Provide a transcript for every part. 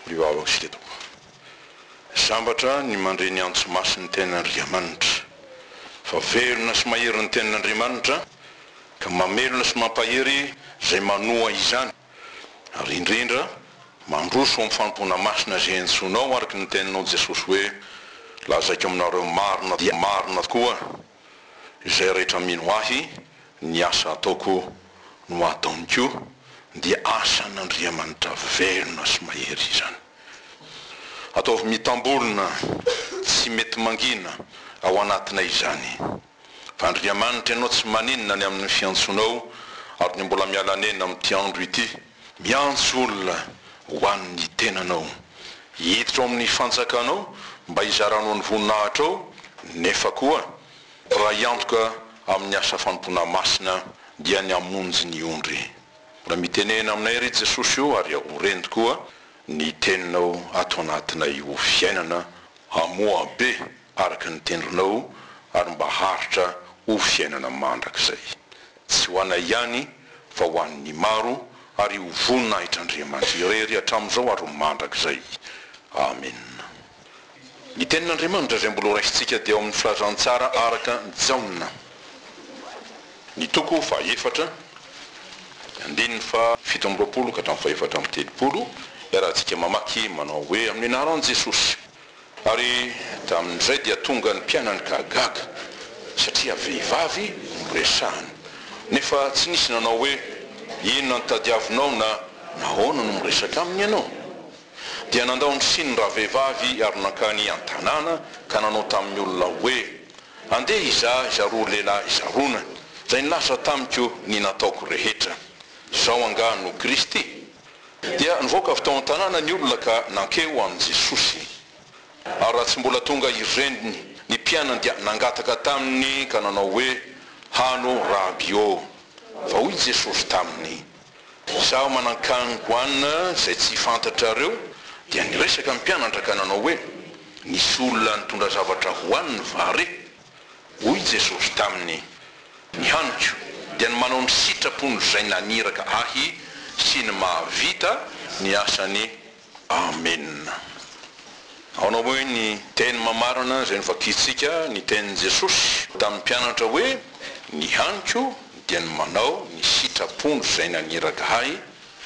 Ry vavako sy tetiko, sambatra ny mandre ny antso masin'ny Tenin'Andriamanitra, fa velona sy mahery ny Tenin'Andriamanitra, ka mamelona sy mampahery izay manoa izany, ary indrindra mandroso amin'ny fanompoana masina izay antsoinao araka ny teninao Jesosy hoe, Lazaiko aminareo, marina dia marina tokoa, izay rehetra mino ahy ny asa ataoko no ataoniko dia asan'Andriamanitra velona sy mahery izany ataovy mitambolona tsy mety mangina ao anatinay izany fa Andriamanitra ianao tsy maninona ny amin'ny fiantsonao ary ny mbola miala nena amin'ity andro ity Miantso olona ho an'ny tenanao. Hiditra ao amin'ny fanjakanao mba hizaranao ny voninahitrao nefa koa raha hiantoka amin'ny asa fanompoana masina dia ny hamonjy ny ondry. Mbola mitenena aminay ry Jesosy o ary ho reny tokoa ny teninao ato anatinay ho fiainana hamoa be. araka ny tendronao ary mba haharitra ho fiainana mandrakizay, tsy ho anay ihany fa ho an'ny maro ary ho voninahitr'Andriamanitra irery hatramin'izao ary ho mandrakizay. Amena. Ny Tenin'Andriamanitra izay mbola horaisintsika dia ao amin'ny Filazantsara araka an'i Jaona, ny toko fahaefatra, ny andininy fahafito amby roapolo ka hatramin'ny fahefatra amby telopolo, iarahantsika mamaky manao hoe, Amin'ny anaran'i Jesosy. Ary tamin'izay dia tonga ny mpianany ka gaga, satria vehivavy no resahiny. Nefa tsy nisy nanao hoe, Inona no tadiavinao? na Nahoana no miresaka aminy ianao? Dia nandao ny siny ny ravehivavy ary nankany an-tanàna ka nanao tamin'ny olona hoe, Andeha hizaha izay roa lehilahy zarona, izay nilaza tamiko ny nataoko rehetra. Izao angaha no Kristy? Dia nivoaka avy tao an-tanàna ny olona ka nankeo ho an'i Jesosy. Ary raha tsy mbola tonga i reniny, ny mpianany dia nangataka taminy ka nanao hoe, Hano, Raby ô! Fa hoy Jesosy taminy, Izaho manan-kaniny ho anina izay tsy fantatrareo. Dia niresaka ny mpianatra ka nanao hoe, Nisy olona nitondra zavatra ho aniny va re? Hoy Jesosy taminy, Ny haniko dia ny manao ny sitrapon'Izay naniraka Ahy sy ny mahavita ny asany. Amena. Ahoana moa ny teny mamarana izay novakintsika ny tenin'i Jesosy tamin'ny mpianatra hoe, Ny haniko dia ny manao ny sitrapon'Izay naniraka Ahy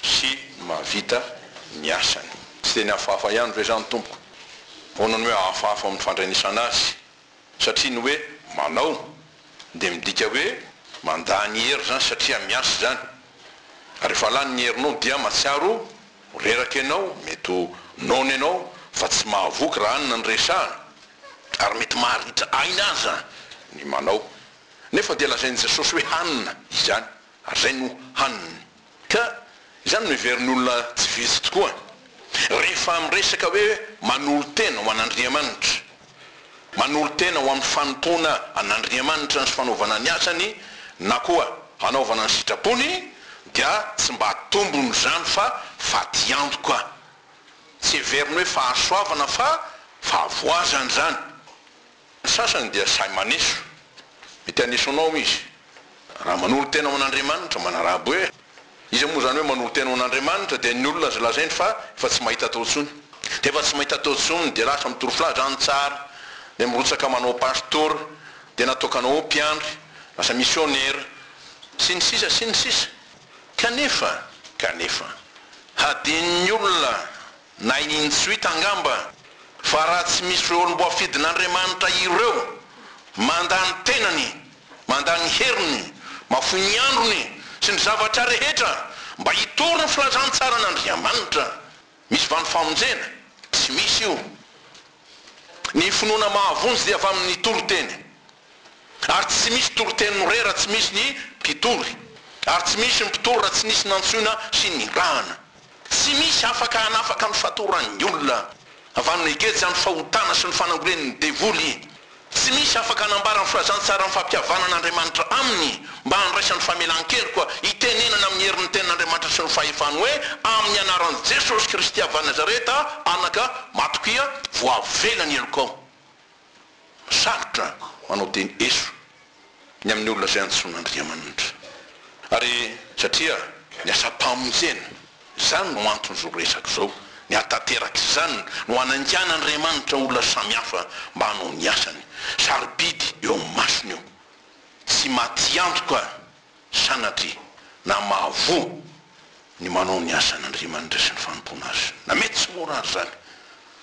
sy ny mahavita ny asany? Tsy teny hafahafa ihany ve izany, Tompoko? Ahoana no hoe hafahafa amin'ny fandrenesana Azy? satria ny hoe manao dia midika hoe mandany hery izany satria miasa izany ary rehefa lany ny herinao dia matsiaro ho reraka ianao, mety ho noana ianao fa tsy mahavoky raha hanina ny resahana ary mety maharitra aina aza ny manao nefa dia lazain'i Jesosy hoe hanina izany ary izay no haniny. Ka izany no heverin'olona tsy vitsy tokoa rehefa miresaka hoe manolo-tena ho an'Andriamanitra. Manolo-tena ho amin'ny fanompoana an'Andriamanitra ny sy fanaovana ny asany na koa hanaovana ny sitrapony dia tsy mba tombony izany fa fatiantoka. Tsy heveriny hoe fahasoavana fa fahavoazana izany. Ny sasany dia sahy maneso. Mety haneso anao hoy izy, raha manolo tena ho an'Andriamanitra, manarabo hoe, Iza moa izany hoe manolo tena ho an'Andriamanitra? Dia ny olona izay lazainy fa efa tsy mahita atao intsony. Dia efa tsy mahita atao intsony, dia lasa mitory filaza any tsara, dia mirotsaka manao pastora, dia natokana ho mpiandry, lasa misionera, sy ny sisa sy ny sisa. Kanefa, kanefa, hadinon'ny olona Na i Nintsuit angamba, fa raha tsy misy ireo olom-boafidin'Andriamanitra ireo, mandà ny tenany, mandà ny heriny, mahafoy ny androny sy ny zavatra rehetra mba hitory ny filazantsaran'Andriamanitra. Misy va ny famonjena? Tsy misy io. Ny finoana mahavonjy dia avy amin'ny toriteny. Ary tsy misy toriteny mre raha tsy misy ny mpitory, ary tsy misy ny mpitory raha tsy nisy nantsoina sy nirahana. Tsy misy afaka hanafaka ny fatoran'ny olona avy amin'ny geja ny fahotana sy ny fanangolen'ny devoly. Tsy misy afaka hanambara ny filazantsaran'ny fampihavanana Andriamanitra aminy mba handraisany famelan-keloka hitenenana amin'ny herin'ny tenin'Andriamanitra sy ny fahefany hoe amin'ny anaran'i Jesosy Kristy avy any Nazareta, Anaka, Matokia, voavela ny helokao. Sarotra manao teny eso ny amin'ny olona izay antsoin'Andriamanitra. Ary satria ny asam-pamonjena, izany no anton'izao resaka izao, ny hahatanteraka izany no hanangan'Andriamanitra olona samihafa mba hanao ny asany. Sarobidy eo amin'ny masony io. Tsy matiantoka sanatria na mahavoa ny manao ny asan' Andriamanitra sy ny fanompoana Azy, na mety tsy mora aza izany,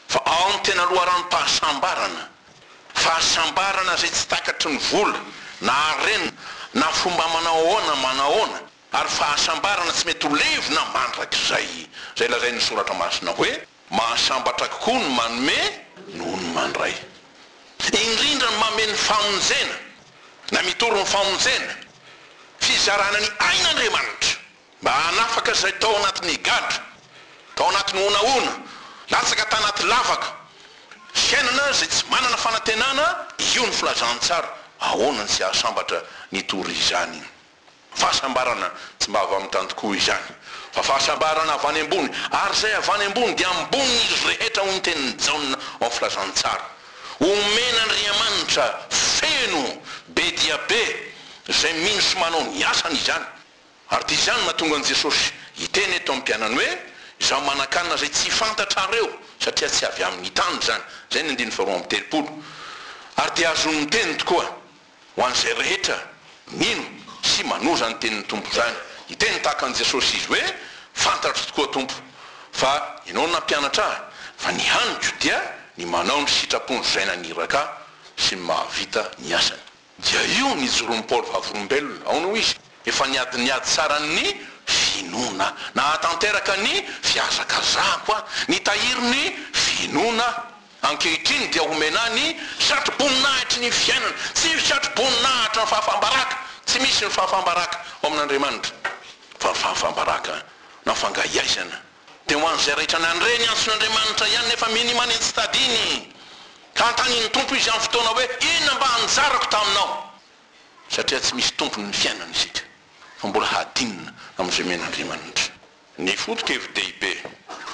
fa ao amin'ny tena loharanom-pahasambarana, fahasambarana izay tsy takatry ny vola, na harena, na fomba manao ahoana manahoana, ary fahasambarana tsy mety ho levona mandrakizay, izay lazain'ny Soratra Masina hoe. Mahasambatra kokoa ny manome noho ny mandray. Indrindra ny manome ny famonjena, na mitory ny famonjena, fizarana ny ain'Andriamanitra mba hanafaka izay tao anatin'ny gadra, tao anatin'ny honahona, latsaka tanaty lavaka, fiainana izay tsy manana fanantenana, io ny filazantsara, ahoana ny tsy hahasambatra nitory izany. Fahasambarana tsy mba avy amin'ny tany tokoa izany, fa fahasambarana avy any ambony, ary izay avy any ambony dia ambonin'izy rehetra, hoy ny tenin'i Jaona ao amin'ny Filazantsara. Omena Andriamanitra feno be dia be izay mino sy manao ny asany izany. Ary dia izany no nahatonga an'i Jesosy hiteny eto amin'ny mpianany hoe, Izaho manankanina izay tsy fantatrareo, satria tsy avy amin'ny tany izany. Izay ny andininy faharoa amby telopolo. Ary dia azony miteny tokoa. Ho an'izay rehetra mino sy manoa izany tenin'ny Tompo izany. Niteny tahaka an'i Jesosy izy hoe, Fantatro tokoa Tompo, fa Ianao no nampianatra ahy, fa ny haniko dia ny manao ny sitrapony Izay naniraka ahy sy ny mahavita ny asany. Dia io no ijoroan'i Paoly vavolombelona. Aona hoy izy? Efa niady ny ady tsaran'ny finoana. Nahatanteraka ny fihazakazahako aho. Nitahiry ny finoana aho. Ankehitriny dia omena ahy ny satroboninahitry ny fiainana, tsy ny satroboninahitry ny fahafaham-baraka, tsy misy ny fahafaham-baraka ao amin'Andriamanitra, fa ny fahafaham-baraka nafangahiaizana dia ho an'izay raitra ny handre ny antson'Andriamanitra ihany nefa minima ny tsy tadiny, ka hanontanian'ny Tompo izy amin'ny fotoana hoe, inona mba anjarako taminao? satria tsy misy tompony ny fiainana isika, fa mbola hadinina amin'izay omen'Andriamanitra. Ny foto-kevi-dehibe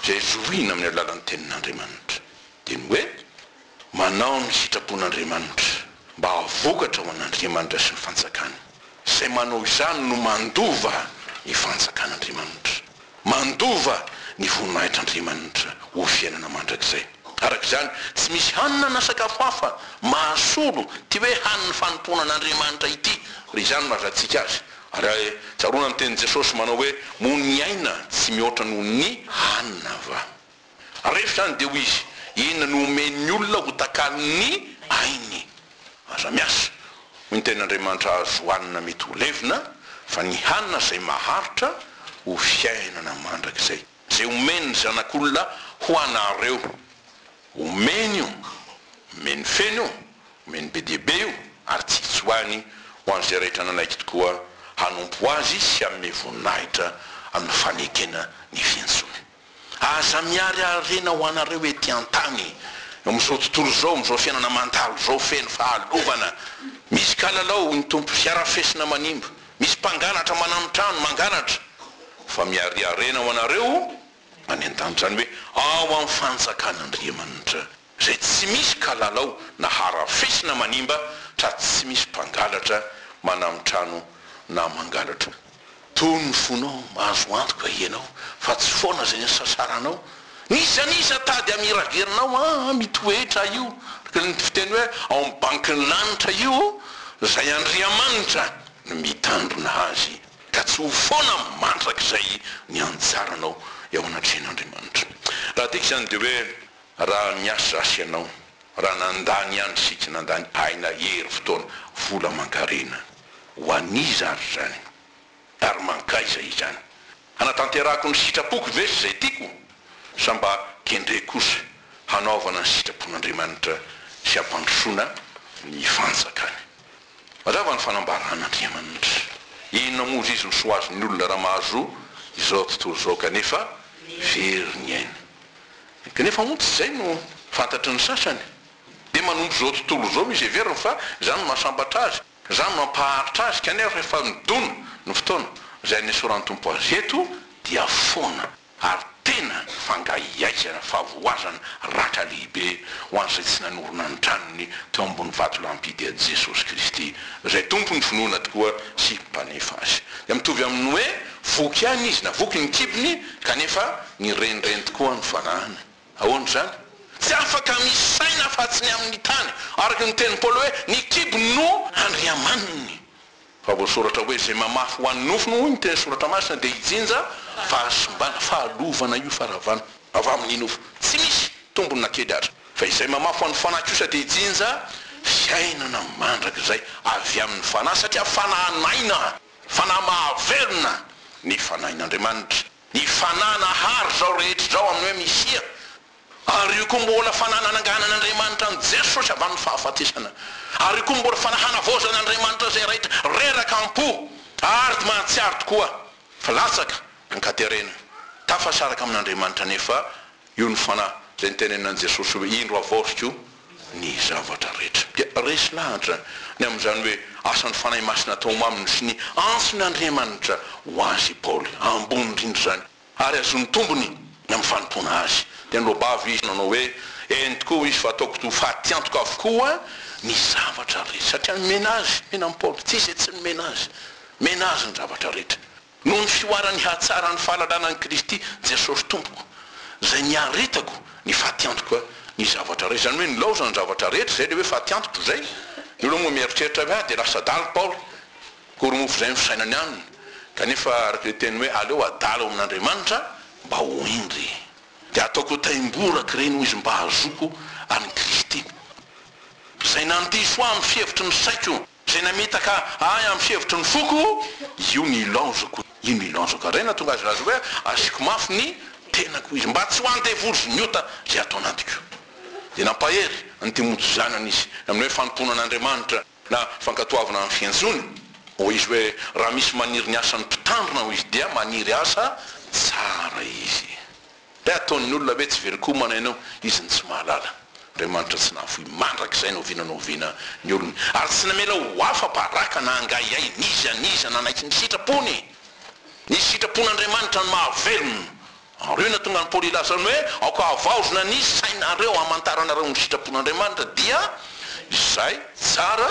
izay zohina amin'ny alalan'ny Tenin'Andriamanitra dia ny hoe manao ny sitrapon'Andriamanitra mba hahavokatra ho an'Andriamanitra sy ny Fanjakany. Izay manao izany no mandova ny Fanjakan'Andriamanitra, mandova ny voninahitr'Andriamanitra ho fiainana mandrakizay. Araka izany, tsy misy hanina na sakafo hafa mahasolo ity hoe hanin'ny fanompoana an'Andriamanitra ity, raha izany no ahazatsika azy. Ary tsaroana ny tenin'i Jesosy manao hoe, Moa ny aina tsy mihoatra noho ny hanina va? Rehefa izany dia hoy izy, Inona no omen'ny olona ho takalon'ny ainy? Aza miasa, hoy ny tenin'Andriamanitra hahazo hanina mety ho levona, fa ny hanina izay maharitra ho fiainana mandrakizay, izay omen'ny Zanak'olona ho anareo. Omeny io, omeny feno io. Omeny be dia be io ary tsy hitsoahany ho an'izay rehetra nanaiky tokoa hanompo Azy sy hanome voninahitra amin'ny fanekena ny fiantsoany. Aza miary harena ho anareo ety an-tany, eo amin'izao tontolo izao, amin'izao fiainana mandalo izao feno fahalovana. Misy kalalao, hoy ny Tompo, sy harafesina manimba. Misy mpangalatra manamitrano, mangalatra. Fa miary harena ho anareo any an-tany, izany hoe ao amin'ny fanjakan'Andriamanitra. Zay tsy misy kalalao na harafesina manimba tra tsy misy mpangalatra manam trano na mangalatra. Tony ny fonao mahazo antoka ianao fa tsy foana izay nisasaranao n'iza n'iza tady am iragelinao am ito hetra io araka ny fiteny hoe ao am bankin'ny lanitra io izay Andriamanitra no mitandrina azy ka tsy ho foana mandrakizay ny anjaranao eo anatrehan'Andriamanitra. Raha tiako izany dia hoe. Raha miasa zasy ianao, raha nandany ihany sy tsy nandany aina, hery, fotoana, vola aman-karena, ho an'iza ary izany? Ary mankaiza izany? Hanatanterahako ny sitrapoko ve sy izay tiako? Sa mba kendreko kosa hanaovana ny sitrapon'Andriamanitra sy hampandrosoana ny fanjakany? Mazava ny fanambaran'Andriamanitra. Inona moa zizy no soazon'ny olona raha mahazo izao tontolo izao kanefa very ny ainy? Kanefa moa tsy izay no fantatry ny sasany. Dia manompo izao tontolo izao no iseveriny fa izany no mahasambatra azy, izany no mampaharitra azy, kanefa rehefa midona ny fotoana izay hanesoran'ny Tompo azy eto dia foana ary tena fangahiaizana, fahavoazana, ratra lehibe ho an'izay tsy nanorina ny tranony teo ambony vatolampy i Dia Jesosy Kristy izay Tompon'ny finoana tokoa sy Mpanefa azy. Dia mitovy amin'ny hoe Voky ihany izy, navoky ny kibony, kanefa nirenireny tokoa ny fanahiny. Ahoana izany? Tsy afaka misaina afa-tsy ny amin'ny tany. Araka ny tenin'i Paoly hoe, Ny kibony no andriamaniny. Fa voasoratra hoe, Izay mamafy ho an'ny nofony, hoy ny teny Soratra Masina, dia hijinja fahasimbana, fahalovana io faharavana avy amin'ny nofo. Tsy misy tombony na kely aza. Fa izay mamafy ho an'ny fanahy kosa dia hijinja fiainana mandrakizay avy amin'ny fanahy, satria fanahy naina. Fanahy mahavelona ny Fanahin'Andriamanitra. Ny Fanahy nahary izao rehetra izao amin'ny hoe Misia, ary io koa mbola Fanahy nananganan'Andriamanitra an'i Jesosy avy amin'ny fahafatesana, ary io koa mbola Fanahy hanavaozan'Andriamanitra izay raitra reraka am-po ary mahatsiaro tokoa fa latsaka an-katerena, tafasaraka amin'Andriamanitra anefa. Io ny fanahy izay niteneninan'i Jesosy hoe, Indro havaoziko ny zavatra rehetra. Dia resy lahatra ny amin'izany hoe asan'ny Fanahy Masina atao ho maminy sy ny antson'Andriamanitra ho azy i Paoly. Ambony indrindra izany ary azon'ny tombony ny amin'ny fanompoana azy. Dia niloa-bava izy nanao hoe, Eny tokoa hoy izy fa ataoko ho fatiantoka avokoa ny zavatra rehetra. Satria nomena azy, nomena an'i Paoly, tsy izay tsy nomena azy. Nomena azy ny zavatra rehetra. Noho ny fihoaran'ny hatsaran'ny fahalalana an'i Kristy Jesosy Tompoko, izay niaretako ny fatiantoka ny zavatra rehetra. Izany hoe nilaozany ny zavatra rehetra, izay ilay hoe fatiantoko izay. Ny olona moa mieritreritra hoe ah dia lasa adala i Paoly, akory moa fa izay no fisainany aminy. Kanefa araka ilay teny hoe aleo adala ao amin'Andriamanitra mba ho hendry. Dia ataoko ho taimboraky ireny hoy izy mba hahazoako an'i Kristy. Izay nandiso ahy amin'ny fihevitry ny saiko. Zay namitaka ahy amin'ny fihevitry ny foko, io no ilaozako, io no ilaozako. Ary izay nahatonga azy hilaza hoe, Asiako mafy ny tenako izy, mba tsy ho an'ny devoly sy ny ota izay ato anatiko. Dia nampahery an'i Timoty zanany izy, amin'ny hoe fanompoana an'Andriamanitra, na fankatoavana ny fiantsoany. Hoy izy hoe, Raha misy maniry ny asan'ny mpitandrina, hoy izy, dia maniry asa tsara izy. Dia ataon'ny olona hoe tsy very komana ianao, izy no tsy mahalala. Andriamanitra tsy nahafoy mandrakizay na oviana na oviana ny olony, ary tsy namela ho afa-baraka na angahiahy n'iza n'iza nanaiky ny sitrapony. Ny sitrapon'Andriamanitra no mahavelona anareo. Nahatonga an'i Paoly hilaza ny hoe, Aoka havaozina ny sainareo hamantaranareo ny sitrapon'Andriamanitra, dia izay tsara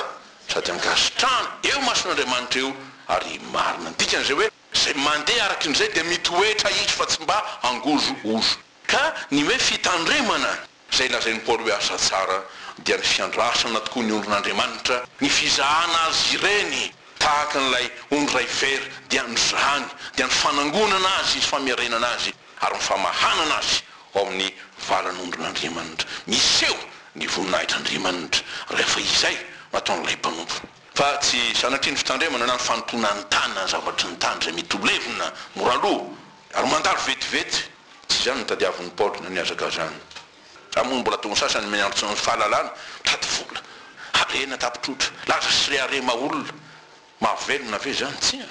sady ankasitrahana eo imason'Andriamanitra io ary marina. Ny dikan'izay hoe. Izay mandeha araka indray dia mitoetra izy fa tsy mba hangozohozo. Ka ny hoe fitandremana, izay lazain'i Paoly hoe asa tsara, dia ny fiandrasana tokoa ny ondrin'Andriamanitra, ny fizahana azy ireny tahaka an'ilay ondry iray very dia nozahany, dia ny fanangonana azy sy famerenana azy ary ny famahanana azy ao amin'ny valan'ondrin'Andriamanitra. Miseho ny voninahitr'Andriamanitra rehefa izay no ataon'ilay mpanompo. Fa tsy zanaky ny fitandremana na ny fanompoana ny tany na ny zavatry ny tany izay mety ho levona mora lo ary mandalo vetivety. Tsy izany no tadiavin'i Paoly na ny hazakazahany. Raha moa mbola ataon'ny sasany ny miantso ny fahalalana, tady vola, harena tapitrotra, laza sy reharema olona, mahavelona ve izany? Tsia.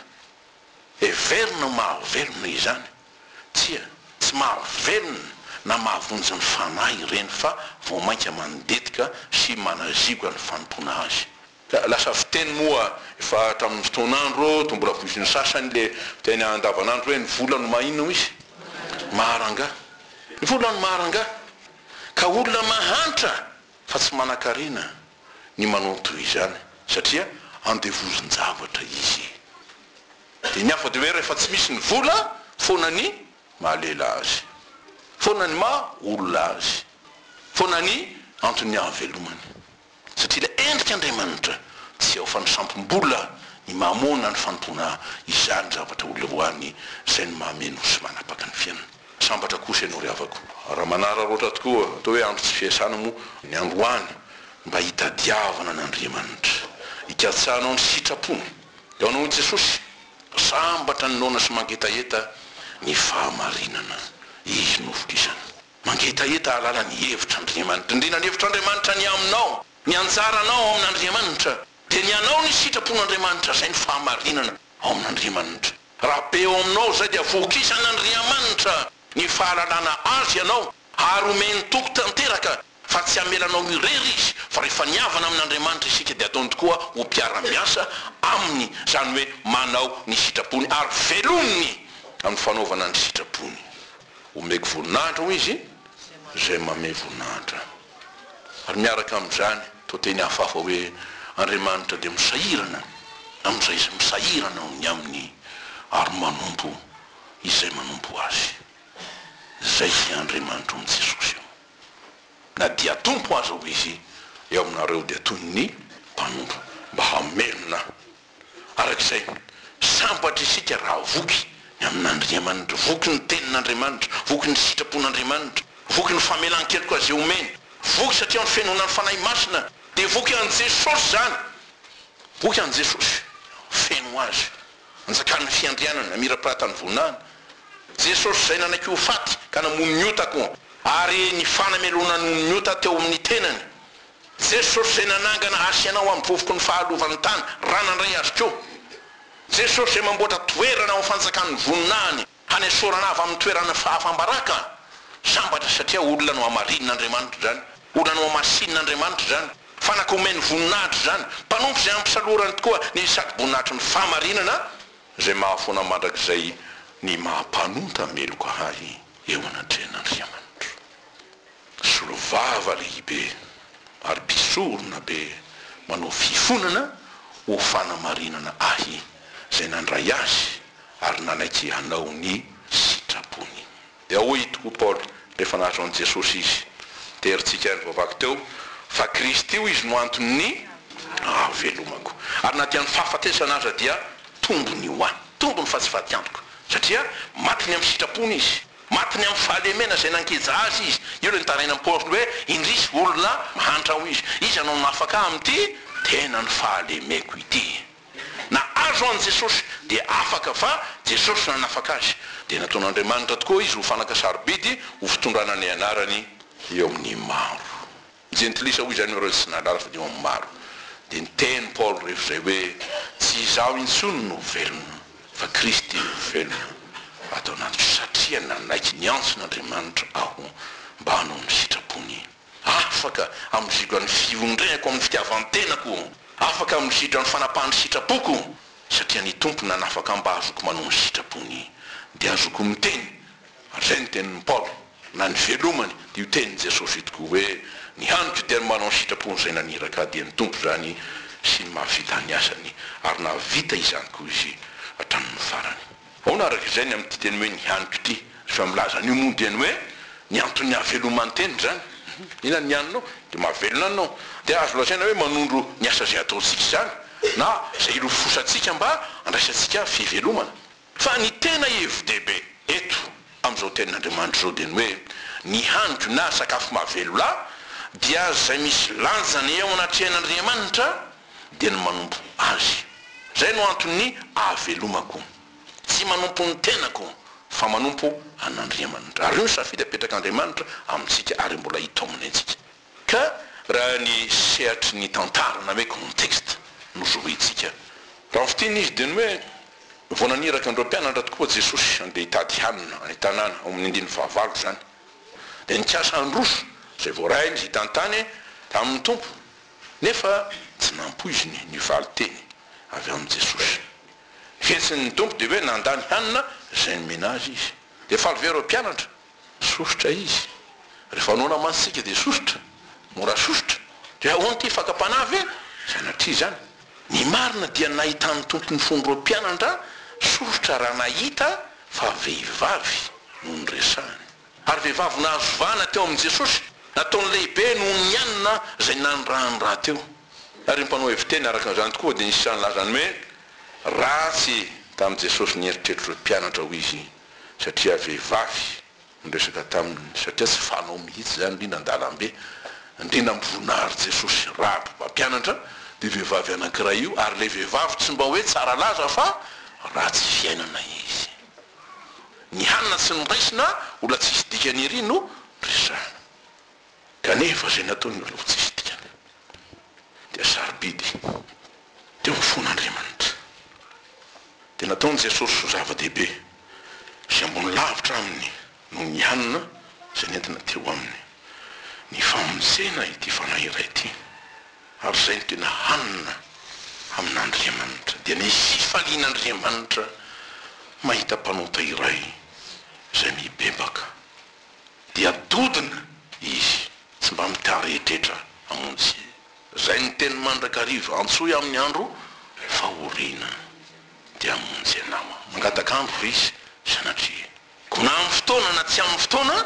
Heverina ho mahavelona izany. Tsia, tsy mahavelona na mahavonjy ny fanahy ireny fa vao mainka mandetika sy manazigoka ny fanompoana azy. Lasa fiteny moa efa hatramin'ny fotoan'andro toa mbola voizin'ny sasany ilay fiteny andavan'andro hoe ny vola no maha inona hozy? maharangaha. Ny vola no maharangaha ka olona mahantra fa tsy manankarena ny manao ny toy izany satria andevozin-javatra izy. Dia ny hafa dia hoe rehefa tsy misy ny vola foana ny mahalela azy, foana ny maha olona azy, foana ny anton'ny ahavelomany. Satria ilay endrik' Andriamanitra tsy ao fanisampom-bola ny mahamoana ny fanompoana izany zavatra ho leoany izay no mahameno sy manapaka ny fiainana. Sambatra kosa ianao ry havako raha manararaotra tokoa atao hoe andro tsy fiasana moa ny androany mba hitadiavana an' Andriamanitra, hikatsahanao ny sitrapony. Eo anao i Jesosy, sambatra ny noana sy mangetaheta ny fahamarinana Izy novolisana. Mangetaheta hahalala ny hevitr'Andriamanitra. Indrindra ny hevitr'Andriamanitra ny aminao. Ny anjaranao ao amin'Andriamanitra dia ny hanao ny sitrapon'Andriamanitra, izay ny fahamarinana ao amin'Andriamanitra. Raha be ao aminao izay dia vokisan'Andriamanitra ny fahalalana Azy ianao ary omeny toky tanteraka Fa tsy hamela anao irery Izy, fa rehefa nihavana amin' Andriamanitra isika dia ataony tokoa ho mpiara-miasa Aminy, izany hoe manao ny sitrapony, ary velominy amin'ny fanaovana ny sitrapony. Homeko voninahitra, hoy Izy, izay manome voninahitra. Ary miaraka amin'izany, toa teny hafahafa hoe, Andriamanitra dia misahirana amin'izay izay misahirana ny Aminy, ary manompo izay manompo Azy. Izay Andriamanitron'i Jesosy io. na dia Tompo aza hoy izy eo aminareo dia toy ny mpanompo mba hamelona ahy. Araka izay, sambatra isika raha voky ny amin'Andriamanitra, voky ny Tenin'Andriamanitra, voky ny sitrapon'Andriamanitra, voky ny famelan-keloka izay omeny, voky satria ny fenonan'ny Fanahy Masina dia voky an'i Jesosy izany, voky an'i Jesosy, feno Azy Anjakan'ny fiandrianana, mirapiratany voninahiny, Jesosy izay nanaiky ho faty ka namono ny otako ary ny fanamelohana noho ny ota teo amin'ny tenany, Jesosy izay nanangana ahy sy anao amin'ny vovoky ny fahalovan'ny tany raha nandray azy koa, Jesosy izay mamboatra toerana ao amin'ny fanjakan'ny voninahiny. Hanesorana avy amin'ny toeran'ny fahafam-baraka ny sambatra satria olona nohamarinin'Andriamanitra izany, olona nohamasinin'Andriamanitra izany, fanaka omeny voninahitra izany, mpanompo izay ampisalorany tokoa ny satroboninahitry ny fahamarinana izay mahafoana mandrakizay ny maha-mpanonta meloka ahy eo anatrehan'Andriamanitra. Mpisolovava lehibe ary mpisorona be manao fifonana ho fanamarinana ahy izay nandray azy ary nanaiky hanao ny sitrapony. Dia hoy tokoa Paoly rehefa nahazo an'i Jesosy izy, dia herintsika ihany voavaky teo, fa Kristy hoy izy no anton'ny hahavelomako, ary na dia ny fahafatesana aza dia tombony ho ahy, tombony fa tsy fatiantoko, satria maty ny amin'ny sitrapony izy. Matiny amin'ny fahalemena izay nankeja azy izy. Io ilay nitaraina an'i Paoly hoe, Indrisy, olona mahantra, hoy izy. Iza no nanafaka ahy amin'ity tena nifahalemeko ity? Na azo an'i Jesosy, dia afaka, fa Jesosy no nanafaka azy. Dia nataon'Andriamanitra tokoa izy ho fanaka sarobidy ho fitondrana ny anarany eo amin'ny maro. Jentilisa, hoy izany ireo tsy nandrara fa dia hono maro. Dia niteny Paoly rehefa izay hoe, Tsy izaho intsony no velona, fa Kristy no velona ato anatiko, satria nanaiky niantson' Andriamanitra aho mba hanao ny sitrapony. Afaka hamizidra ny fiondrehako amin'ny fitiavan-tenako, afaka hamizidra ny fanapahan'ny sitrapoko, satria ny Tompo nanafaka ahy mba hazoako manao ny sitrapony, dia hazoako miteny Hatreha ny tenin'i Paoly, na ny velomany, dia io tenin'i Jesosy io tokoa hoe, Ny haniko dia ny manao ny sitrapon'izay naniraka ahy, dia ny Tompo izany sy ny mahavita ny asany. Ary nahavita izany koa izy hatramin'ny farany. Ahoana araka izay ny amin'ity teny hoe ny haniko ity? Rehefa milaza an'io moa dia ny hoe ny anton'ny hahaveloman'ny teny izany. Inona ny haninao? Dia mahavelona anao. Dia azo lazaina hoe manondro ny asa izay ataontsika izany, na izay ilofosantsika mba handraisantsika fivelomana. Fa ny tena hevi-dehibe eto amin'izao Tenin'Andriamanitra izao dia ny hoe, ny haniko na sakafo mahavelona dia izay misy lanjany eo anatrehan'Andriamanitra dia ny manompo Azy. Izay no anton'ny ahavelomako. Tsy manompo ny tenako fa manompo an'Andriamanitra. Ary io no safidy apetrak'Andriamanitra amintsika ary mbola hitaominy antsika. Ka raha ny sehatry ny tantara na hoe contexte no zohitsika, raha ny fiteny izy dia ny hoe vao naniraka an'ireo mpianatra tokoa Jesosy handeha hitady hanina any an-tanàna, ao amin'ny andininy fahavalo izany, dia nikasa handroso izay voarahiny izy hitantany tamin'ny Tompo, nefa tsy nampoiziny ny valin-teny avy amin'i Jesosy. Fihetsiny ny Tompo dia hoe nandany hanina izay nomena azy izy. Dia faly ve ireo mpianatra? Sosotra izy. Rehefa noana mantsy isika dia sosotra. Mora sosotra. Dia ahoana ity? Fakam-panahy ve? Sanatria izany. Ny marina dia nahitan'ny Tompo ny fon'ireo mpianandra sosotra raha nahita fa vehivavy no noresahany. Ary vehivavy nahazo vahana teo amin'i Jesosy. Nataony lehibe noho ny anona izay nanirahany rahateo. Ary ny mpanao heviteny araka an'izany tokoa dia nisy sahy nilaza ny hoe ratsy tamin'i Jesosy ny eritreritro ireo mpianatra, hoy izy. satria vehivavy niresaka taminy satria tsy fanao mihitsy zany ndrindra andalambe ndrindra am voninahary jesosy raha mbo mampianatra io vehivavy anankiray io ary le vehivavy tsy mba hoe tsara laza fa ratsy fiainana izy ny hanina tsy noraisina mbola tsisy dikany ery no resahina Kanefa izay nataon'ny Lova tsy hisy dikany dia sarobidy teo ho fon'Andriamanitra. Dia nataon'i Jesosy ho zava-dehibe sy ambony lavitra aminy noho ny hanina izay nentina teo aminy, ny famonjena ity fanahy iray ity. Ary izay no tena hanina amin'Andriamanitra. Dia nisy fifalian'Andriamanitra mahita mpanota iray izay mibebaka. dia dodona izy tsy mba mikareetretra hamonjy izay ny teny mandrakariva antsoy amin'ny andro fahoriana dia hamonjy anao mangataka andro ve izy sanatria koa na amin'ny fotoana na tsy amin'ny fotoana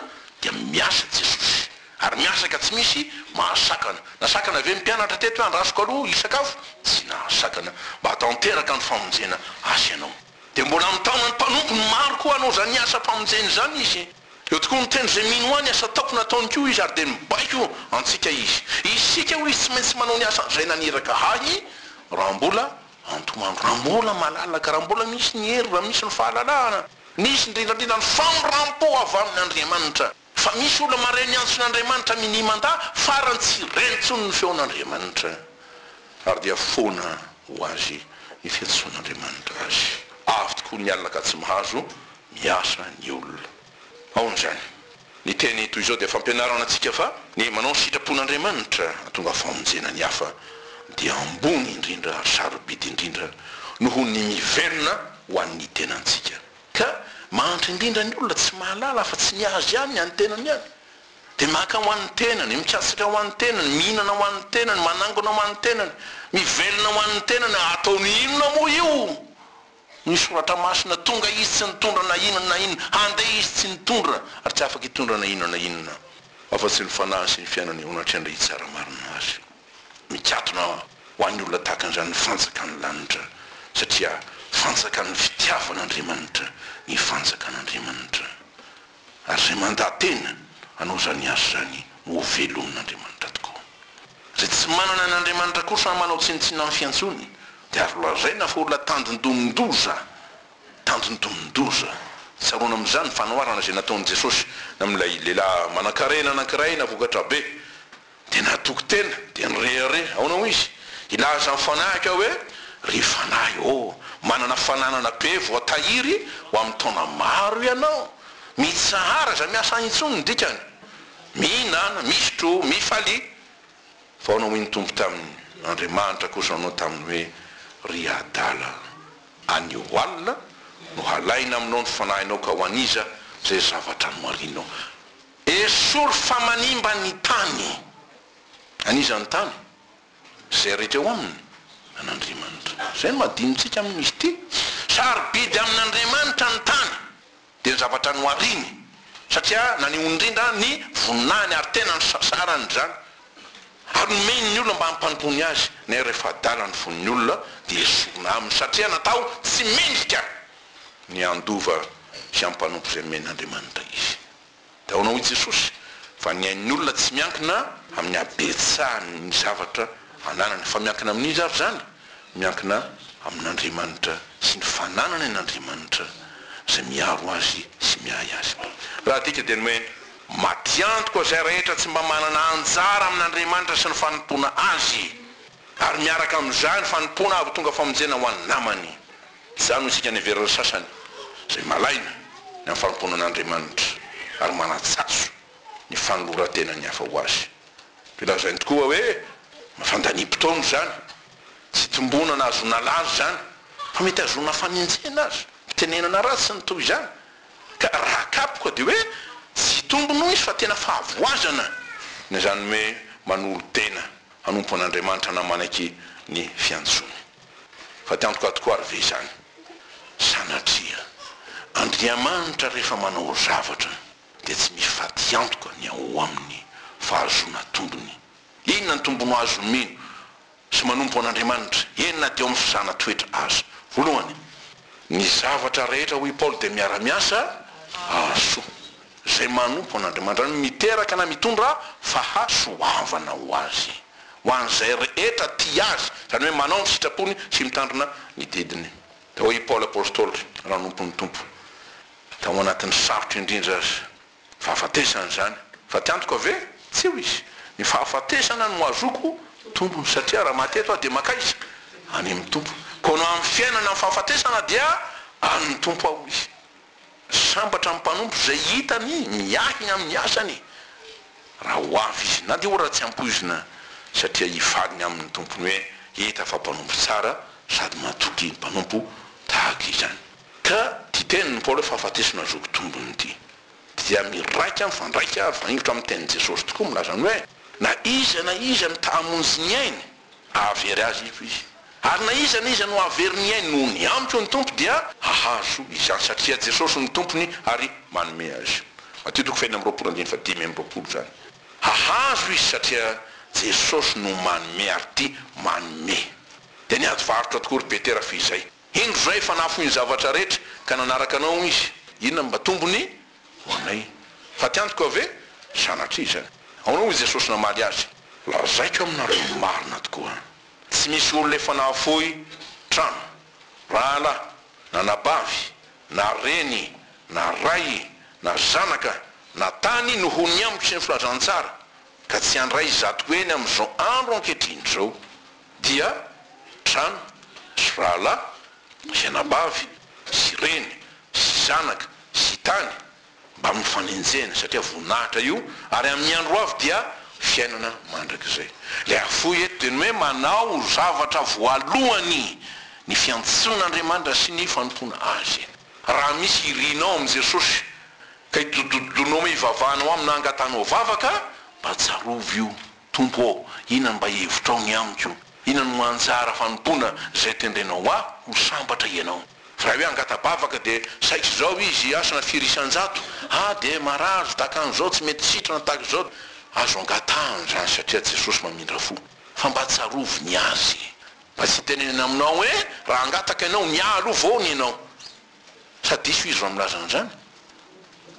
dia miasa jesosy ary miasa ka tsy misy mahasakana nasakana ve ny mpianatra teto hoe andrasoko aloha hisakafo tsy nahasakana mba hatanteraka ny famonjena azy ianao Dia mbola mitaona ny mpanompony maro koa hanao izany asam-pamonjena izany izy. Eo tokoa ny tendro izay mino ahy ny asa ataoko nataony koa izy ary dia mibaiko antsika izy. Isika hoy izy tsy maintsy manao ny asa izay naniraka ahy raha mbola antoandro, raha mbola malalaka, raha mbola misy ny hery, raha misy ny fahalalahana, misy indrindrandrindra ny famindrampo avy amin'Andriamanitra. Fa misy olona maray miantsona Andriamanitra minia mandà farany tsy reny intsony ny feon' Andriamanitra ary dia foana ho azy ny fiantsoan' Andriamanitra azy. Avy tokoa ny alina ka tsy mahazo miasa ny olona. Aona izany? Ny teny toy izao dia fampianarana antsika fa ny manao ny sitrapon' Andriamanitra hahatonga famonjena ny hafa dia ambony indrindra ary sarobidy indrindra noho ny mivelona ho an' ny tenantsika. Ka mahantra indrindra ny olona tsy mahalala afa-tsy ny azy ihany, ny an'ny tenany ihany. Dia maka ho an'ny tenany, mikatsaka ho an'ny tenany, mihinana ho an'ny tenany, manangona ho an'ny tenany, mivelona ho an'ny tenany. Ataony inona moa io? Ny Soratra Masina, Tonga izy tsy nitondra na inona na inona, handeha izy tsy nitondra, ary tsy afaka hitondra na inona na inona, afa-tsy ny fanahiny sy ny fiainany eo anatrehan'ilay hitsara marina azy. Mikatona ho an'ny olona tahaka an'izany ny fanjakan'ny lanitra, satria fanjakan'ny fitiavan'Andriamanitra ny fanjakan'Andriamanitra, ary izay mandatena hanao izany asa izany no ho velomin'Andriamanitra tokoa. Izay tsy manana an'Andriamanitra kosa ary manao tsinontsinona amin'ny fiantsoany dia azo lazaina fa olona tandindomin-doza, tandindomin-doza. Tsaroana amin'izany ny fanoharana izay nataon'i Jesosy amin'ilay lehilahy manankarena anankiray navokatra be. Dia natoky tena, dia nirehareha. Aona hoy izy? Hilaza ny fanahy ka hoe, Ry fanahy ô, manana fananana be voatahiry ho amin'ny taona maro ianao. Mitsahara izay miasa any intsony no dikany. Mihinana, misotro, mifalia. Fa aona hoy ny Tompo taminy? Andriamanitra kosa nanao taminy hoe, Ry adala, anio alina no halaina aminao ny fanahinao ka ho an'iza izay zavatra nomarinao? Esory fa manimba ny tany. An' iza ny tany? Izay rehetra eo aminy? An' Andriamanitra. Izay no adinontsika amin' izy ity. Sarobidy amin' Andriamanitra ny tany, dia ny zavatra nohariny, satria naneho indrindra ny voninahiny ary tena nisasarany izany, ary nomeny ny olona mba hampandony azy, nefa rehefa adala ny vonin' olona dia esorina aminy, satria natao tsy mendrika ny handova sy hampanompo izay nomen' Andriamanitra izy. Dia ahoana hoy Jesosy? Fa ny ain'ny olona tsy miankina amin'ny habetsahan'ny zavatra ananany. Fa miankina amin'inona ary izany? Miankina amin'Andriamanitra sy ny fananany an'Andriamanitra izay miaro azy sy miahy azy. Raha adika dia ny hoe matiantoka izay rehetra tsy mba manana anjara amin'Andriamanitra sy ny fanompoana Azy, ary miaraka amin'izany fanompoana hahatonga famonjena ho an'ny namany. Izany no isika niheverana sasany izay malaina ny amin'ny fanompoana an'Andriamanitra ary manatsazo ny fanoloran-tenan'ny hafa ho Azy. Dia lazainy tokoa hoe fandanim-potoana izany, tsy itombonana hahazoana lalina izany, fa mety hahazoana fanenjehana aza, fitenenana ratsy sy ny toy izany. Ka raha kapoka dia hoe tsy hitombina hoy izy fa tena fahavoazana na izany hoe manolo-tena hanompo an'Andriamanitra na manaky ny fiantsoany. Fa te antoka tokoa ary ve izany? Sanatria! Andriamanitra rehefa manao zavatra dia tsy mifatiantoka ny ao aminy fahazoana tombony. Inona ny tombony azon'ny mino sy manompo an'Andriamanitra, eny na dia ao amin'ny fisahana toetra aza? Voalohany, ny zavatra rehetra, hoy i Paoly, dia miara-miasa hahasoa. Izay manompo an'Andriamanitra no miteraka na mitondra faha soavana ho azy, ho an'izay rehetra tia azy, izany hoe manao ny sitrapony sy mitandrina ny didiny. Hoy i Paoly Apostoly nanompon'ny Tompo tao anatin'ny sarotra indrindra azy, fahafatesana izany, fa tsy antoka ve? Tsia hoy izy, ny fahafatesana no azoako tombony, satria raha maty eto aho dia mankaiza? Any amin'ny Tompo. Koa ny amin'ny fiainana amin'ny fahafatesana dia an'ny Tompo aho hoy izy. Sambatra ny mpanompo izay hitany miahina amin'ny asany raha ho avy izy, na dia ohatra tsy ampoizina, satria hivaliny amin'ny tompony hoe, Hita fa mpanompo tsara sady matoky ny mpanompo tahaka izany. Ka ity tenin'i Paoly hoe fahafatesana ny zoky tombony ity dia miraika mifandraika ary mifaningotra amin'ny tenin'i Jesosy tokoa milaza ny hoe, Na iza na iza mitaha-monjy ny ainy, Hahavery azy eto izy. Ary na iza na iza no hahavery ny ainy noho ny amiko ny Tompo dia hahazo izany, satria Jesosy no Tompony ary manome azy. Matio toko fahenina amby roapolo andininy fahadimy amby roapolo izany. Hahazo izy satria Jesosy no manome ary ity manome. Dia niady varotra tokoa ry Petera f'izay. Indro izao efa nahafoy ny zavatra rehetra ka nanaraka anao izy. Inona no mba tombony? ho anay. Fa tiantoka aho ve? Sanatria izany. Ahoana hoy Jesosy namaly azy? Lazaiko aminareo ny marina tokoa, tsy misy olona efa nahafoy trano, rahalahy, na anabavy, na reny, na ray, na zanaka, na tany noho ny amiko sy ny filazantsara, ka tsy handray izato heny amin'izao andro ankehitriny izao, dia trano, sy rahalahy, Misy anabavy sy reny sy zanaka sy tany mba mifanenjehana satria voninahitra io ary amin'ny andro hoavy dia fiainana mandrakizay. Ilay hafoy eto dia ny hoe manao zavatra voalohany ny fiantsoan'Andriamanitra sy ny fanompoana Azy. Raha misy irinao amin'i Jesosy ka itododonao mey hivavahanao Aminy na angatanao vavaka, mba tsarovy io. Tompo ô, inona mba hevitrao ny amiko? Inona no anjara fanompoana izay tendrenao ahy ho sambatra Ianao? Fa raha hoe hangata-bavaka dia saika izao izy hiasana firy isan-jato, ah dia marary dakan'izao tsy mety sitrana tahaka izao, azo angatahana izany satria Jesosy mamindra fo. Fa mba tsarovy ny Azy. Mba tsy hitenenana aminao hoe raha hangataka ianao, mialoha voany ianao. Sa diso izy raha milaza an'izany?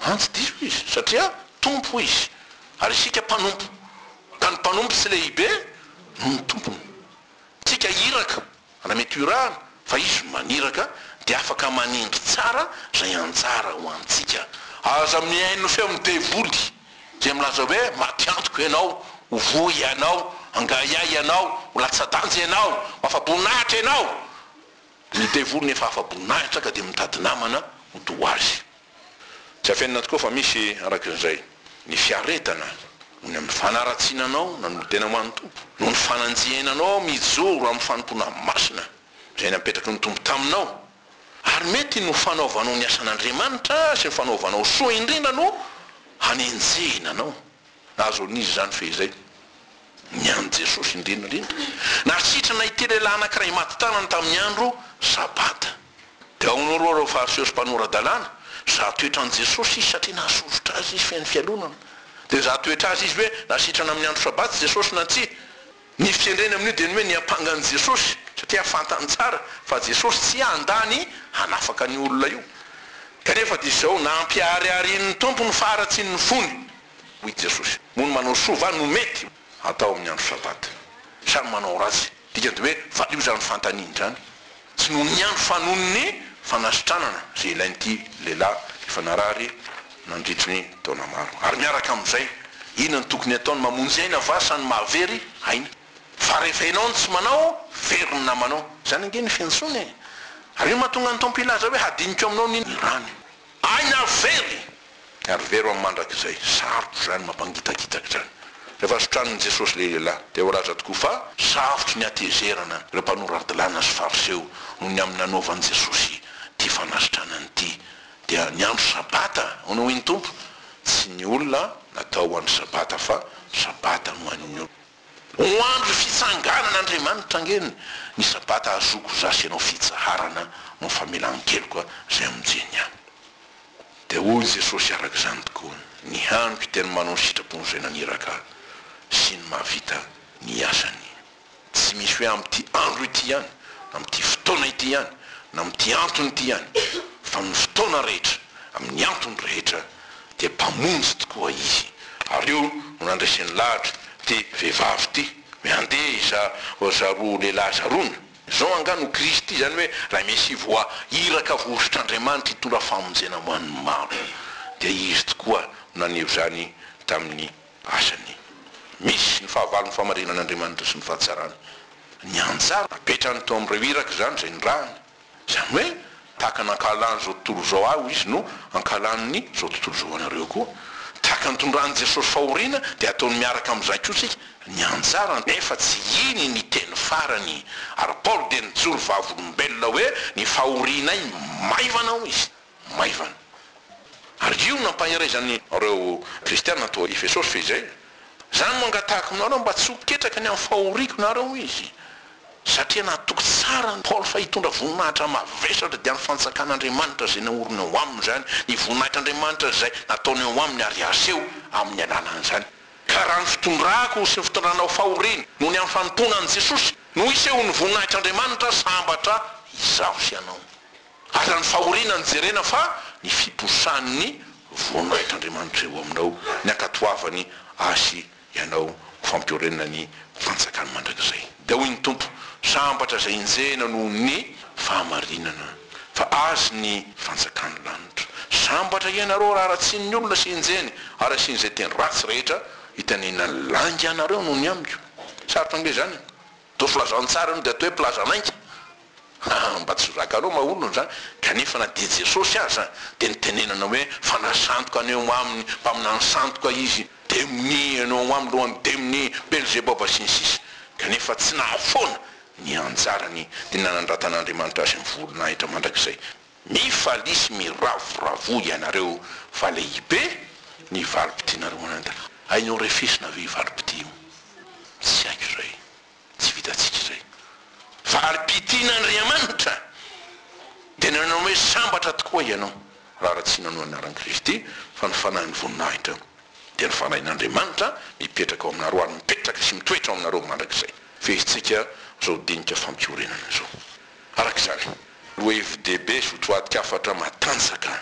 An, tsy diso izy, satria Tompo izy, ary isika mpanompo, ka ny mpanompo tsy lehibe noho ny tompony. Tsika iraka, raha mety irahana, fa izy maniraka, dia afaka manendry tsara izay anjara ho antsika. Aza mihaino feon'ny devoly, izay milaza hoe, Maty antoko ianao, ho voa ianao, hangahiahy ianao, ho latsa-danja ianao, ho afa-boninahitra ianao! Ny devoly nefa afa-boninahitra ka dia mitady namana ho toa azy. Tsy afenina tokoa fa misy, araka izay, ny fiaretana noho ny amin'ny fanaratsiana anao nanolotena ho an'ny Tompo, noho ny fananjihena anao mijoro amin'ny fanompoana masina izay napetraky ny Tompo taminao, ary mety ny ho fanaovanao ny asan'Andriamanitra sy ny fanaovanao soa indrindra no hanenjehina anao. Azon'izy izany fehizay. Ny an'i Jesosy indrindra indrindra. Nasitrana ity lehilahy anankiray maty tanana tamin'ny andro Sabata. Dia ahoana hoy ireo Fariseo sy mpanora-dalàna? Hizaha toetra an'i Jesosy izy satria nahasosotra azy izy feno fialonana. Dia nizaha toetra azy izy hoe nasitrana amin'ny andro Sabata Jesosy na tsia. Ny firenena amin'io dia ny hoe ny ampanga an'i Jesosy, satria fantany tsara fa Jesosy tsy handà ny hanafaka an'io olona io. Kanefa dia izao, Nampihariharian'ny Tompo ny faharatsian'ny fony, hoy i Jesosy. Moa ny manao soa va no mety hatao amin'ny andro Sabata? Sa ny manao ratsy? Dikany dia hoe valio izany fanontaniana izany. Tsy noho ny andro fa noho ny fanasitranana izay ilain'ity lehilahy efa narary nandritry ny taona maro. Ary miaraka amin'izay, inona no tokony hataony? Mamonjy aina va sa ny mahavery aina? Fa rehefa ianao no tsy manao, very ny namanao. Izany ange ny fiantsoana e! Ary inona no mahatonga ny Tompo hilaza hoe hadinikao aminao ny rany? Aina very! Ary very amin'ny mandrakizay. Sarotra izany, mampangitakitaka izany. Rehefa sotranin'i Jesosy ilay lehilahy, dia voalaza tokoa fa sarotry ny hatezerana ireo mpanora-dalàna sy Fariseo noho ny amin'ny nanaovan'i Jesosy ity fanasitranany ity. Dia ny andro Sabata, hono hoy ny Tompo, tsy ny olona natao ho an'ny Sabata fa Sabata no an'ny olona. Ho andro fitsanganan' Andriamanitra ange ny sabata hazoako za sy ianao fitsaharana no famelan-keloka zay amonjeny ahy. Dia hoy Jesosy araka izany tokoa ny hanoky dia ny manao ny sitrapon' izay naniraka ahy sy ny mahavita ny asany. Tsy misy hoe amin'ity andro ity ihany, amin'ity fotoana ity ihany, na amin'ity antony ity ihany, fa amin'ny fotoana rehetra, amin'ny antony rehetra, dia mpamonjy tokoa izy. Ary io no nandreseny lahatra ty vehivavy ty hoe andeha iza za roa lehilahy zarona. Zao angaha no Kristy, izany hoe ilay Mesia voa iraka voahosotr'Andriamanitra hitondra famonjena ho an'ny maro. Dia izy tokoa no naneho izany tamin'ny asany. Misy ny fahavalon'ny fahamarinan'Andriamanitra sy ny fahatsarany. Nianjady napetrany teo amin'ireo iraka izany izay nirahany. Izany hoe tahaka ny ankahalany izao tontolo izao ahy hoy izy no ankahalany izao tontolo izao anareo koa. Tahaka ny tondran'i Jesosy fahoriana dia ataony miaraka amin'izany koa isika ny anjarany. Nefa tsy iny ny teny farany ary Paoly dia nijoro vavolombelona hoe ny fahorianay maivana hoy izy. maivana. Ary io nampaherezany ireo kristiana tao Efesosy fehizay, Izany no angatahiko aminareo mba tsy ho ketraka ny amin'ny fahoriako nareo izy. Satria natoky tsara an'i Paoly fa hitondra voninahitra mavesatra dia ny fanjakan'Andriamanitra izay naoriny ao aminy izany, ny voninahitr'Andriamanitra izay nataony ao aminy ary aseho amin'ny alalan'izany. Ka raha ny fitondrako sy ny fitondranao fahoriana noho ny amin'ny fanompoana an'i Jesosy no hisehoan'ny voninahitr'Andriamanitra, sambatra izaho sy ianao. Azan'ny fahoriana no jerena fa ny fiposahan'ny voninahitr' Andriamanitra eo aminao, ny ankatoavany ahy sy ianao ho fampiorenana ny fantsakany mandrakizay. Dia hoy ny Tompo, Sambatra izay enjehina noho ny fahamarinana, fa azy ny fantsakan'ny lanitra. Sambatra ianareo raha aratsian'ny olona sy enjehiny, ary asian'izay teny ratsy rehetra itenenan'ny lainga anareo noho ny amiko. Sarotra ange izany e! Toa filazantsara io dia atao hoe mpilaza lainga. Haa mba tsy ho raganao maolona zany kanefa na dia Jesosy aza dia nitenenana hoe fanahy sandoka any ho aminy mpaminany sandoka izy demony any ho aminy lohan'ny demony belzeboba sy ny sisa kanefa tsy nahafoana ny anjarany dia nanandratan'Andriamanitra azy ny voninahitra mandrakizay mifalia sy miravoravoa ianareo fa lehibe ny valim-pitinareo anadra hainao refesina ve i valim-pitia io tsy haiko izay. Tsy vitantsika izay. Fa ary pitina Andriamanitra dia nanao hoe sambatra tokoa ianao raha raha tsy nanoa ny anaran'i Kristy fa ny fanahin'ny voninahitra dia ny fanahin'Andriamanitra mipetraka ao aminareo ary mipetraka sy mitoetra ao aminareo mandrakizay. Feheztsika izao dinika fampiorenana izao. Araka izany, lohevi-dehibe sy hotoatin-kafatra matanjaka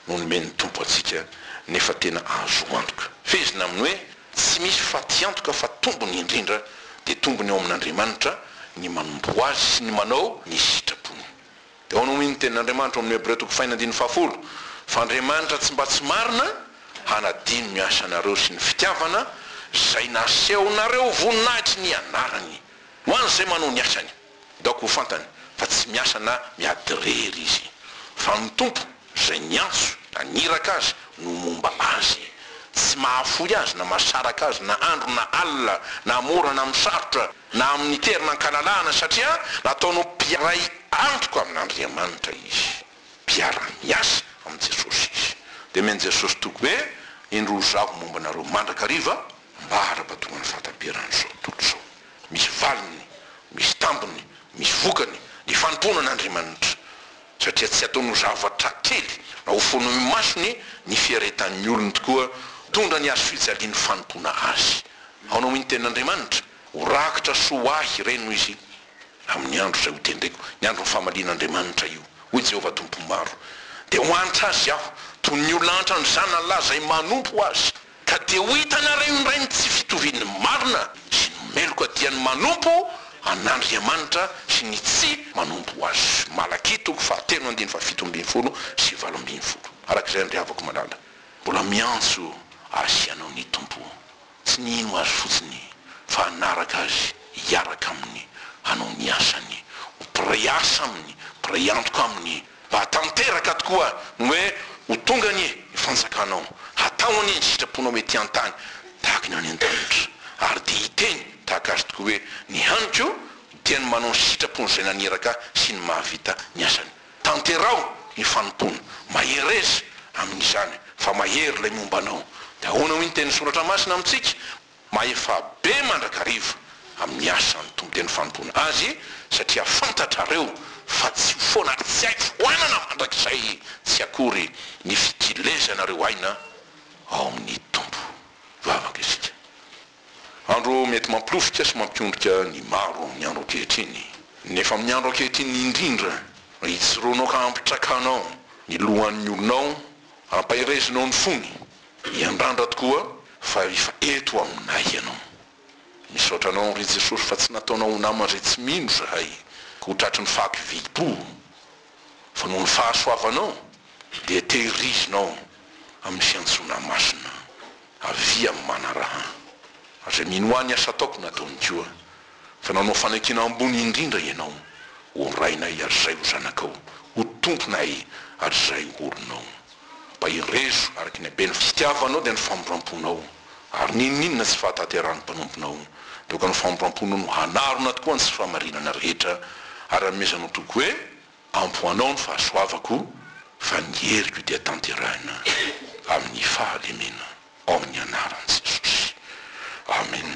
no nomen'ny Tompo antsika, nefa tena azo antoka. Fehezina amin'ny hoe tsy misy faty antoka fa tombony indrindra dia tombony ao amin'Andriamanitra ny manompo ho Azy sy ny manao ny sitrapony. Eo no nomen'ny Tenin'Andriamanitra ao amin'ny Hebreo toko fahiny andininy fahafolo fa Andriamanitra tsy mba tsy marina hanadino ny asanareo sy ny fitiavana izay nasehonareo voninahitry ny anarany ho an'izay manao ny asany. Daoko ho fantany fa tsy miasa na miady rery izy, fa ny Tompo izay niantso na niraka azy no momba azy. Tsy mahafoy azy na mahasaraka azy na andro na alina na mora na misarotra na amin'ny tery na an-kalalahana satria nataony ho mpiaray antoka amin'Andriamanitra izy. Mpiara-miasa amin'i Jesosy izy. Dia omen'i Jesosy toky hoe, Indro izaho momba anareo mandrakariva mba ara-potoan'ny fahataperan'izao tontolo izao. Misy valiny, misy tambiny, misy vokany ny fanompoana an'Andriamanitra, satria tsy ataony ho zavatra kely na ho fono imasony ny fiaretan'ny olony tokoa tondra ny hazo fijalian'ny fanompoana Azy. Ahoana hoy ny tenin'Andriamanitra? Ho rakitra soa ho ahy ireny, hoy Izy, amin'ny andro izay hotendreko, ny andron'ny famalian'Andriamanitra io, hoy Jehovah Tompo Maro, dia ho antra azy aho, toy ny olona antra ny zanany lahy izay manompo azy. Ka dia ho hitanareo indray ny tsy fitovian'ny marina sy ny meloka dia ny manompo an'Andriamanitra sy ny tsy manompo Azy. Malakia toko fahatelo andininy fahafito ambin'ny folo sy valo ambin'ny folo. Araka izay andriavako malala, mbola miantso azy sy anao ny Tompo, tsy ny hino Azy fotsiny, fa hanaraka Azy, hiaraka Aminy, hanao ny asany, ho mpiray asa Aminy, mpiray antoka Aminy, Mba tanteraka tokoa ny hoe ho tonga anie ny fanjakanao, hatao anie ny sitraponao ety an-tany tahaka ny any an-danitra. Ary dia hiteny tahaka azy tokoa hoe, Ny haniko dia ny manao ny sitrapon'izay naniraka sy ny mahavita ny asany. Tanteraho ny fanompoana. Mahereza amin'izany, fa mahery ilay momba anao. Dia ahoana hoy ny tenin'ny Soratra Masina amintsika? Mahefa be mandrakariva amin'ny asa ny Tompo dia ny fanompoana Azy satria fantatrareo fa tsy ho foana ary tsy hay foanana mandrakizay tsy akory ny fikilezanareo aina ao amin'ny Tompo. Vavaka isika. Andro mety mampilovika sy mampiondrika ny maro amin'ny andro ankehitriny. Nefa amin'ny andro ankehitriny indrindra, ijoroanao ka ampitrakanao ny lohan'ny olonao, ampaherezinao ny fony, Miandrandra tokoa fa efa eto aminay ianao. Misaotra anao ry Jesosy fa tsy nataonao ho namana izay tsy mino izahay ho tratry ny fako vidim-po fa noho ny fahasoavanao dia tehirizinao amin'ny fiantsoana masina avia amin'ny manaraha aza. Minoa ny asa ataoko nataony koa fa nanao fanakiana ambony indrindra ianao ho Rainay ary izay ho Zanakao, ho Tomponay ary izay ho olonao. Mba irezo araka ny habeny fitiavanao dia ny famindram-ponao, ary n'inon'inona tsy fahatanterahan'ny mpanomponao, dia aoka ny famindram-ponao no hanarona tokoa ny tsy fahamarinana rehetra, ary hanomezanao toky hoe, Ampy ho anao ny fahasoavako, fa ny heriko dia tanterahina amin'ny fahalemena, ao amin'ny anaran'i Jesosy. Amena.